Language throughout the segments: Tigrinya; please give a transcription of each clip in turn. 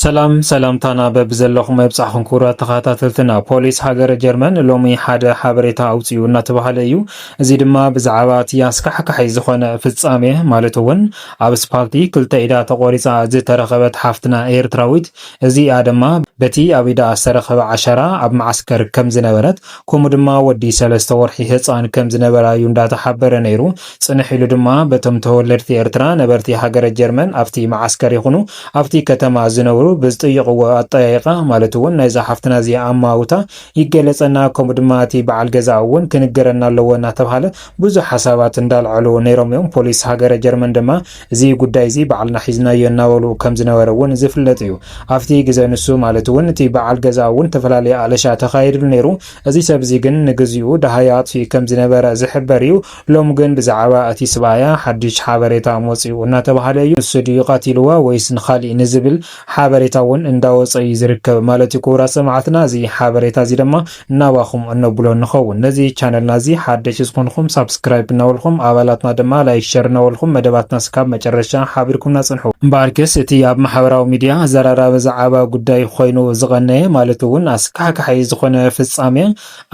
ሰላም ሰላምታና በብዘለኹም መብጻሕኹም ክቡራት ተኸታተልትና። ፖሊስ ሃገረ ጀርመን ሎሚ ሓደ ሓበሬታ ኣውጽኡ እናተባህለ እዩ። እዚ ድማ ብዛዕባ እቲ ኣስካሕካሒ ዝኾነ ፍጻሜ ማለት እውን ኣብ ስፓልቲ ክልተ ኢዳ ተቖሪጻ ዝተረኸበት ሓፍትና ኤርትራዊት እዚኣ ድማ በቲ ኣብ ኢዳ ዝተረኸበ ዓሸራ ኣብ መዓስከር ከም ዝነበረት ከምኡ ድማ ወዲ ሰለስተ ወርሒ ህፃን ከም ዝነበራ እዩ እንዳተሓበረ ነይሩ። ጽንሕ ኢሉ ድማ በቶም ተወለድቲ ኤርትራ ነበርቲ ሃገረ ጀርመን ኣብቲ መዓስከር ይኹኑ ኣብቲ ከተማ ዝነብሩ ብዝጥይቕዎ ኣጠያይቓ ማለት እውን ናይዛ ሓፍትና እዚኣ ኣመዋውታ ይገለፀና ከምኡ ድማ እቲ በዓል ገዛኣ እውን ክንገረና ኣለዎ እናተብሃለ ብዙሕ ሓሳባት እንዳልዐሉ ነይሮም እዮም። ፖሊስ ሃገረ ጀርመን ድማ እዚ ጉዳይ እዚ ባዕልና ሒዝናዮ እናበሉ ከም ዝነበረ እውን ዝፍለጥ እዩ። ኣብቲ ግዘ ንሱ ማለት እውን እቲ በዓል ገዛኣ እውን ተፈላለየ ኣለሻ ተኻይድሉ ነይሩ። እዚ ሰብ እዚ ግን ንግዚኡ ደሃዩ ኣጥፊኡ ከም ዝነበረ ዝሕበር እዩ። ሎሚ ግን ብዛዕባ እቲ ስብኣያ ሓድሽ ሓበሬታ መፂኡ እናተብሃለ እዩ። ንሱ ድዩ ቐቲልዋ ወይስ ንኻሊእ ንዝብል ሓበሬታ እውን እንዳወፀ እዩ ዝርከብ ማለት እዩ። ክቡራት ሰማዕትና እዚ ሓበሬታ እዚ ድማ ናባኹም እነብሎ ንኸውን። ነዚ ቻነልና እዚ ሓደሽቲ ዝኾንኹም ሳብስክራይብ እናበልኹም ኣባላትና ድማ ላይክ ሸር እናበልኹም መደባትና እስካብ መጨረሻ ሓቢርኩምና ፅንሑ። እምበኣርከስ እቲ ኣብ ማሕበራዊ ሚድያ ኣዘራራቢ ዛዕባ ጉዳይ ኾይኑ ዝቐነየ ማለት እውን ኣስካሕካሒ ዝኾነ ፍፃመ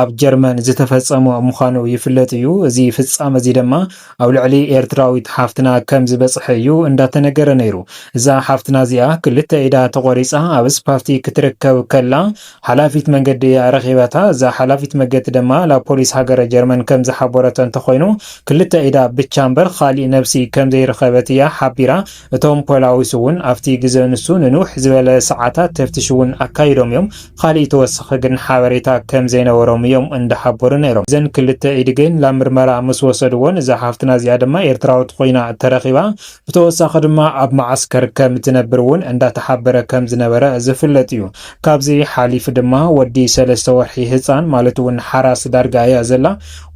ኣብ ጀርመን ዝተፈጸሞ ምዃኑ ይፍለጥ እዩ። እዚ ፍጻመ'ዚ ደማ ኣብ ልዕሊ ኤርትራዊት ሓፍትና ከም ዝበጽሐ እዩ እንዳተነገረ ነይሩ። እዛ ሓፍትና'ዚኣ ክልተ ኢዳ ተቖሪጻ ኣብ ኣስፓልቲ ክትርከብ ከላ ሓላፊት መንገዲ እያ ረኺባታ። እዛ ሓላፊት መገዲ ደማ ላፖሊስ ሃገረ ጀርመን ከም ዝሓቦረቶ እንተኾይኑ ክልተ ኢዳ ብቻ እምበር ኻሊእ ነብሲ ከም ዘይረኸበት እያ ሓቢራ። እቶም ፖላዊስ እውን ኣብቲ ግዘ ንሱ ንንውሕ ዝበለ ሰዓታት ተፍትሽ እውን ኣካይዶም እዮም፣ ኻሊእ ተወሳኺ ግን ሓበሬታ ከም ዘይነበሮም እዮም እንዳሓበሩ ነይሮም። እዘን ክልተ ኢድ ግን ላብ ምርመራ ምስ ወሰድዎን እዛ ሓፍትና እዚኣ ድማ ኤርትራዊት ኾይና ተረኺባ፣ ብተወሳኺ ድማ ኣብ መዓስከር ከም እትነብር እውን እንዳተሓበረ ከም ዝነበረ ዝፍለጥ እዩ። ካብዚ ሓሊፉ ድማ ወዲ ሰለስተ ወርሒ ህፃን ማለት እውን ሓራስ ዳርጋ እያ ዘላ፣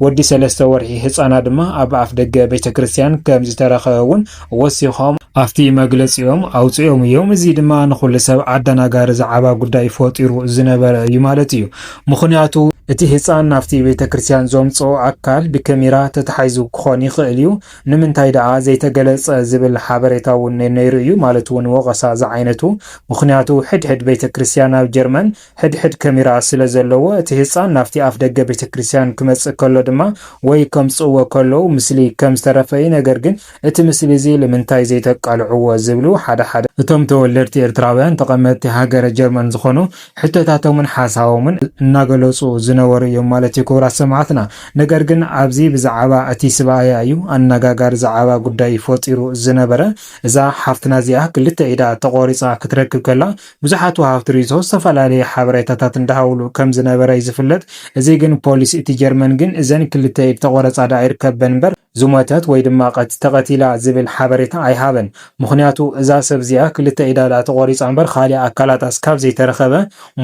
ወዲ ሰለስተ ወርሒ ህፃና ድማ ኣብ ኣፍደገ ቤተክርስትያን ከም ዝተረኸበ እውን ወሲኾም ኣብቲ መግለፂኦም ኣውፂኦም እዮም። እዚ ድማ ንኹሉ ሰብ ኣደናጋሪ ዛዕባ ጉዳይ ፈጢሩ ዝነበረ እዩ ማለት እዩ። ምኽንያቱ እቲ ህፃን ናብቲ ቤተ ክርስቲያን ዘምፅኦ ኣካል ብከሜራ ተታሒዙ ክኾን ይኽእል እዩ፣ ንምንታይ ደኣ ዘይተገለፀ ዝብል ሓበሬታ እውን ነይሩ እዩ ማለት እውን ወቐሳ ዝዓይነቱ። ምኽንያቱ ሕድሕድ ቤተ ክርስቲያን ኣብ ጀርመን ሕድሕድ ከሚራ ስለ ዘለዎ እቲ ህጻን ናብቲ ኣፍደገ ቤተክርስትያን ክመጽእ ከሎ ድማ ወይ ከምጽእዎ ከለው ምስሊ ከም ዝተረፈ እዩ ነገር ግን እቲ ምስሊ እዚ ልምንታይ ዘይተቃልዕዎ ዝብሉ ሓደ ሓደ እቶም ተወለድቲ ኤርትራውያን ተቐመጥቲ ሃገረ ጀርመን ዝኾኑ ሕቶታቶምን ሓሳቦምን እናገለጹ ዝነበሩ እዮም ማለት እዩ ክቡራት ሰማዕትና ነገር ግን ኣብዚ ብዝዓባ እቲ ስብኣያ እዩ ኣናጋጋሪ ዝዓባ ጉዳይ ፈጢሩ ዝነበረ እዛ ሓፍትና እዚኣ ክልተ ኢዳ ተቖሪጻ ክትረክብ ከላ ብዙሓት ወሃብቲ ሪኢቶ ዝተፈላለዩ ሓበሬታታት እንዳሃቡሉ ከም ዝነበረ እዩ ዝፍለጥ እዚ ግን ፖሊስ እቲ ጀርመን ግን እዘን ክልተ ኢድ ተቆረጻ ድኣ ይርከበን እምበር ዝሞተት ወይ ድማ ቀት ተቀቲላ ዝብል ሓበሬታ ኣይሃበን ምኽንያቱ እዛ ሰብ እዚኣ ክልተ ኢዳ ድኣ ተቆሪጻ እምበር ካሊእ ኣካላታ እስካብ ዘይተረኸበ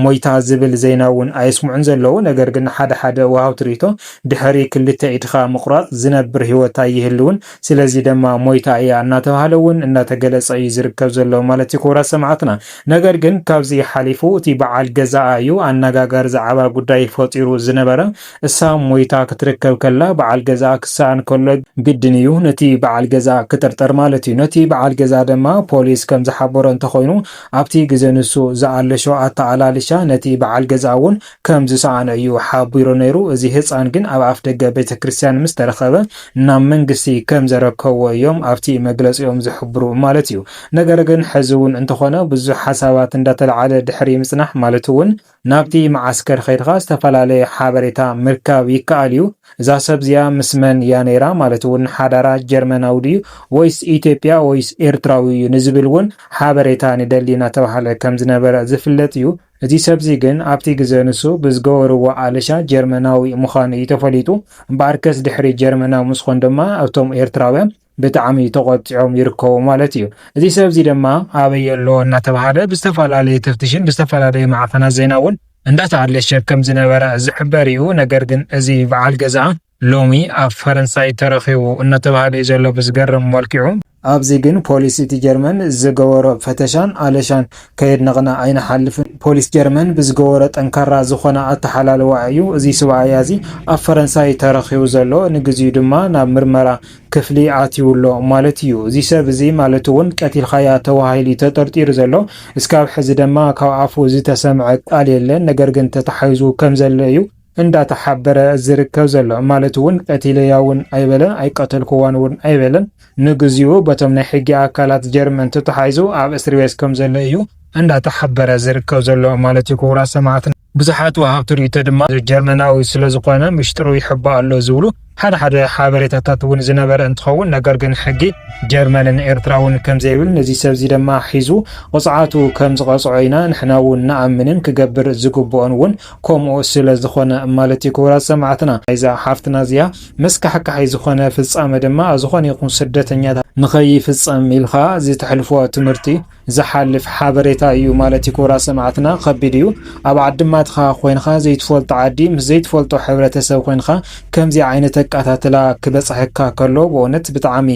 ሞይታ ዝብል ዜና እውን ኣየስምዑን ዘለዉ ነገር ግን ሓደ ሓደ ወሃብቲ ሪኢቶ ድሕሪ ክልተ ኢድኻ ምቁራጽ ዝነብር ሂወት ኣይህልውን ስለዚ ደማ ሞይታ እያ እናተብሃለ እውን እናተገለፀ እዩ ዝርከብ ዘሎ ማለት እዩ ክቡራት ሰማዕትና። ነገር ግን ካብዚ ሓሊፉ እቲ በዓል ገዛኣ እዩ ኣናጋጋሪ ዝዓባ ጉዳይ ፈጢሩ ዝነበረ። እሳ ሞይታ ክትርከብ ከላ በዓል ገዛኣ ክሰኣን ከሎ ግድን እዩ ነቲ በዓል ገዛኣ ክጥርጠር ማለት እዩ። ነቲ በዓል ገዛኣ ደማ ፖሊስ ከምዝሓበሮ እንተኾይኑ ኣብቲ ግዘ ንሱ ዝኣለሾ ኣተኣላልሻ ነቲ በዓል ገዛኣ እውን ከም ዝሰኣኖ እዩ ሓቢሩ ነይሩ። እዚ ህጻን ግን ኣብ ኣፍደገ ቤተክርስትያን ምስ ተረኸበ ናብ መንግስቲ ከም ዘረከብዎ እዮም ኣብቲ መግለጺኦም ዝሕብሩ ማለት እዩ። ነገር ግን ሕዚ እውን እንተኾነ ብዙሕ ሓሳባት እንዳተልዓለ ድሕሪ ምጽናሕ ማለት እውን ናብቲ መዓስከር ኸይድኻ ዝተፈላለየ ሓበሬታ ምርካብ ይከኣል እዩ። እዛ ሰብ እዚኣ ምስ መን እያ ነይራ ማለት እውን ሓዳራ ጀርመናዊ ድዩ ወይስ ኢትዮጵያ ወይስ ኤርትራዊ እዩ ንዝብል እውን ሓበሬታ ንደሊ እናተባህለ ከም ዝነበረ ዝፍለጥ እዩ። እዚ ሰብዚ ግን ኣብቲ ግዘ ንሱ ብዝገበርዎ ኣለሻ ጀርመናዊ ምዃኑ እዩ ተፈሊጡ። እምበኣርከስ ድሕሪ ጀርመናዊ ምስኮን ድማ እቶም ኤርትራውያን ብጣዕሚ ተቖጢዖም ይርከቡ ማለት እዩ። እዚ ሰብዚ ድማ ኣበይ ኣሎ እናተብሃለ ብዝተፈላለየ ተፍትሽን ብዝተፈላለየ ማዕኸናት ዜና እውን እንዳተኣለሸ ከምዝነበረ ዝሕበር እዩ። ነገር ግን እዚ በዓል ገዝኣ ሎሚ ኣብ ፈረንሳይ ተረኺቡ እናተብሃለ እዩ ዘሎ ብዝገርም መልክዑ። ኣብዚ ግን ፖሊስ እቲ ጀርመን ዝገበሮ ፈተሻን ኣለሻን ከየድነቕና ኣይንሓልፍን። ፖሊስ ጀርመን ብዝገበሮ ጠንካራ ዝኾነ ኣተሓላልዋ እዩ እዚ ስብኣያ እዚ ኣብ ፈረንሳይ ተረኺቡ ዘሎ። ንግዚኡ ድማ ናብ ምርመራ ክፍሊ ኣትዩ ኣሎ ማለት እዩ። እዚ ሰብ እዚ ማለት እውን ቀቲልካያ ተባሂሉ እዩ ተጠርጢሩ ዘሎ። እስካብ ሕዚ ደማ ካብ ኣፉ ዝተሰምዐ ቃል የለን። ነገር ግን ተታሒዙ ከምዘሎ እዩ። እንዳተሓበረ ዝርከብ ዘሎ ማለት እውን ቀቲለያ እውን ኣይበለን ኣይቀተልኩዋን እውን ኣይበለን ንግዚኡ በቶም ናይ ሕጊ ኣካላት ጀርመን ተታሓሒዙ ኣብ እስርቤት ከም ዘሎ እዩ እንዳተሓበረ ዝርከብ ዘሎ ማለት እዩ ክቡራት ሰማዕትና ብዙሓት ወሃብቲ ርእይቶ ድማ ጀርመናዊ ስለ ዝኾነ ምሽጥሩ ይሕባእ ኣሎ ዝብሉ ሓደ ሓደ ሓበሬታታት እውን ዝነበረ እንትኸውን ነገር ግን ሕጊ ጀርመንን ኤርትራ እውን ከምዘይብል ነዚ ሰብ እዚ ድማ ሒዙ ቕፅዓቱ ከምዝቐፅዖ ኢና ንሕና እውን ንኣምንን ክገብር ዝግብኦን እውን ከምኡ ስለዝኾነ ማለት እዩ ክቡራት ሰማዕትና ናይዛ ሓፍትና እዚኣ መስካሕካሒ ዝኾነ ፍፃመ ድማ ኣብ ዝኾነ ይኹን ስደተኛታት ንኸይፍፀም ኢልኻ ዝተሕልፎ ትምህርቲ ዝሓልፍ ሓበሬታ ኢዩ ማለት ክቡራት ሰማዕትና ከቢድ ኢዩ ኣብ ዓድማትኻ ኮይንኻ ዘይትፈልጦ ዓዲ ምስ ዘይትፈልጦ ሕብረተሰብ ኮይንኻ ከምዚ ዓይነት ኣቃታትላ ክበጽሐካ ከሎ በእውነት ብጣዕሚ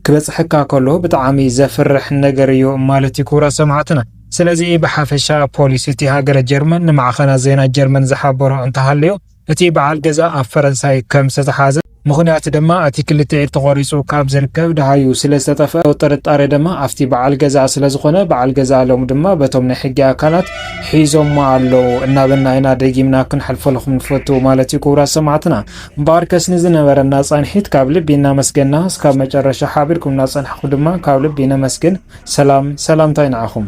ክበጽሐካ ከሎ ብጣዕሚ ዘፍርሕ ነገር ኢዩ ማለት ኢዩ ክቡራት ሰማዕትና ስለዚ ብሓፈሻ ፖሊስ እቲ ሃገረ ጀርመን ንማዕኸናት ዜና ጀርመን ዝሓበሮ እንተሃልዩ እቲ በዓል ገዛ ኣብ ፈረንሳይ ከም ዝተተሓዘ ምኽንያት ድማ እቲ ክልተ ኢድ ተቖሪፁ ካብ ዝርከብ ደሃዩ ስለ ዝተጠፍኣ ጥርጣሬ ድማ ኣፍቲ በዓል ገዛ ስለ ዝኾነ በዓል ገዛ ሎሚ ድማ በቶም ናይ ሕጊ ኣካላት ሒዞሞ ኣለው እናበልና ኢና ደጊምና ክንሓልፈለኹም ንፈቱ ማለት እዩ ክቡራት ሰማዕትና እምበኣርከስ ንዝነበረና ፃንሒት ካብ ልቢ እናመስገና እስካብ መጨረሻ ሓቢርኩም እናፀናሕኹም ድማ ካብ ልቢ ነመስግን ሰላም ሰላምታይ ንዓኹም